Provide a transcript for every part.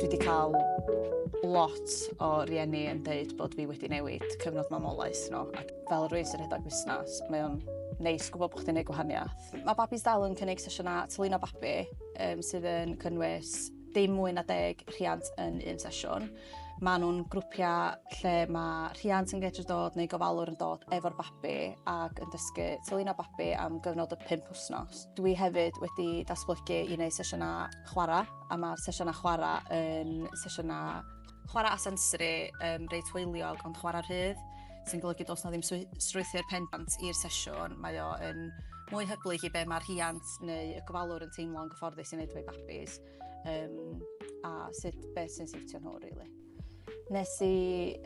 Dwi 'di cael lot o rieni yn deud bod fi wedi newid cyfnod mamolaeth nhw ac fel rwy'n sy'n rhedeg busnes, mae o'n neis gwybod bod chdi'n gwneud gwahaniaeth. Mae Babis Dal yn cynnig sesiynau tylino babi um, sydd yn cynnwys dim mwy na deg rhiant yn un sesiwn. Mae nhw'n grwpiau lle mae rhiant yn gallu dod neu gofalwr yn dod efo'r babi ac yn dysgu tylun o babi am gyfnod o 5 wythnos. Dwi hefyd wedi datblygu i wneud sesiynau chwarae A mae'r sesiynau chwarae yn sesiynau chwarae a sensori um, reit hwyliog ond chwarae rhydd, sy'n golygu dos na ddim strwythu'r pendant i'r sesiwn, mae o yn mwy hyblyg i be mae'r rhiant neu y gofalwr yn teimlo'n gyfforddus i wneud efo'i babis um, a sut beth sy'n siwtio nhw, really. Nes i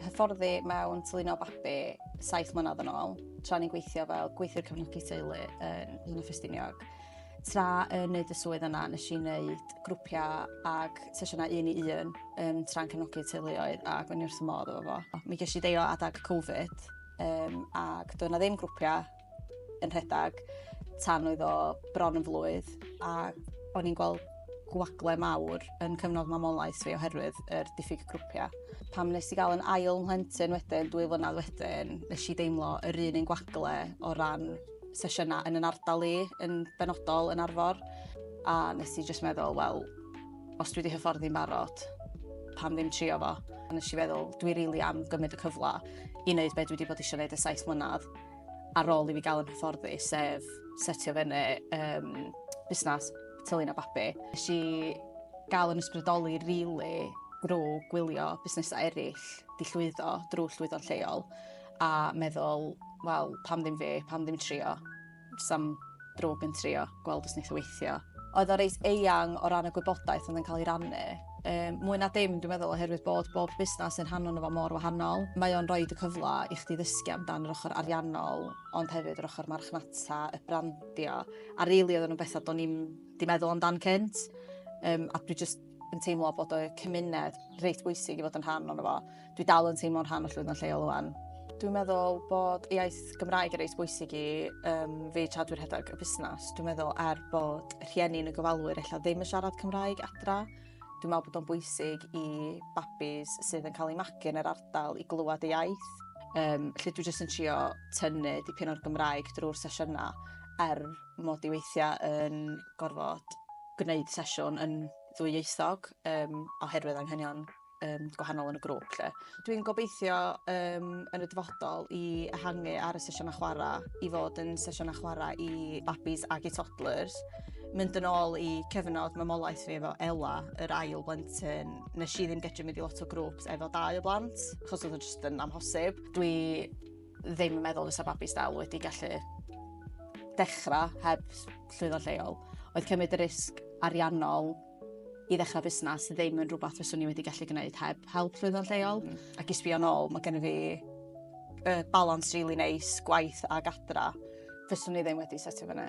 hyfforddi mewn tylino babi saith mlynedd yn ôl, tra ni'n gweithio fel gweithiwr cefnogi teulu yn un o Ffestiniog. Tra yn neud y swydd yna, nes i wneud grwpiau ag sesiynau un i un um, tra'n cefnogi teuluoedd a gwyn wrth y modd efo fo. Mi ges i deio adag Covid um, ac doedd yna ddim grwpiau yn rhedeg tan oedd o bron yn flwydd a o'n i'n gweld gwagle mawr yn cyfnod mamolaeth fi oherwydd yr er diffyg grwpiau. Pam nes i gael yn ail mhlentyn wedyn, dwy flynedd wedyn, nes i deimlo yr un yn gwagle o ran sesiynau yn yn ardal i, yn benodol yn arfor. A nes i jyst meddwl, wel, os dwi wedi hyfforddi'n barod, pam ddim trio fo? A nes i feddwl, dwi rili really am gymryd y cyfle i wneud beth dwi wedi bod eisiau gwneud y saith mlynedd. ar ôl i fi gael yn hyfforddi, sef setio fyny um, busnes tylun a babi. Nes i gael yn ysbrydoli rili really, drwy gwylio busnesau eraill di llwyddo drwy llwyddo'n lleol a meddwl, wel, pam ddim fi, pam ddim trio, sam drwg yn trio gweld os wneith o weithio. Oedd o reit eang o ran y gwybodaeth oedd yn cael ei rannu. Um, mwy na dim, dwi'n meddwl, oherwydd bod bob busnes yn rhan o'n fo mor wahanol. Mae o'n rhoi y cyfle i chdi ddysgu amdan yr ochr ariannol, ond hefyd yr ochr marchnata, y brandio, a rili really, oedden nhw'n bethau do'n i'n di meddwl amdan cynt. Um, a dwi just yn teimlo bod y cymuned reit bwysig i fod yn rhan o'n fo. Dwi dal yn teimlo'n rhan o llwyddo'n lleol o'n. Dwi'n meddwl bod iaith Gymraeg yn reit bwysig i um, fi tra dwi'n rhedeg y busnes. Dwi'n meddwl er bod rhieni yn y gofalwyr ella ddim yn siarad Cymraeg adra, dwi'n meddwl bod o'n bwysig i babis sydd yn cael ei magu yn yr ardal i glywed ei iaith. Um, lle dwi jyst yn trio tynnu dipyn o'r Gymraeg drwy'r sesiynau er mod i weithia' yn gorfod gwneud sesiwn yn ddwyieithog yym oherwydd anghenion yym gwahanol yn y grŵp 'lly. Dwi'n gobeithio yym yn y dyfodol i ehangu ar y sesiyna chwara' i fod yn sesiyna chwara' i babis ag i toddlers. Mynd yn ôl i cyfnod mamolaeth fi efo Ela yr ail blentyn nesh i ddim gedru mynd i lot o grŵps efo dau o blant achos odd o jyst yn amhosib. Dwi ddim yn meddwl fysa babis dal wedi gallu dechrau heb llwyddo lleol. Oedd cymryd y risg ariannol i ddechrau busnes ddim yn rhywbeth fyswn i wedi gallu gwneud heb help llwyddo lleol. Mm. Ac i sbio nôl, mae gen i fi uh, balans really neis, gwaith a gadra. Fyswn i ddim wedi setio fyny.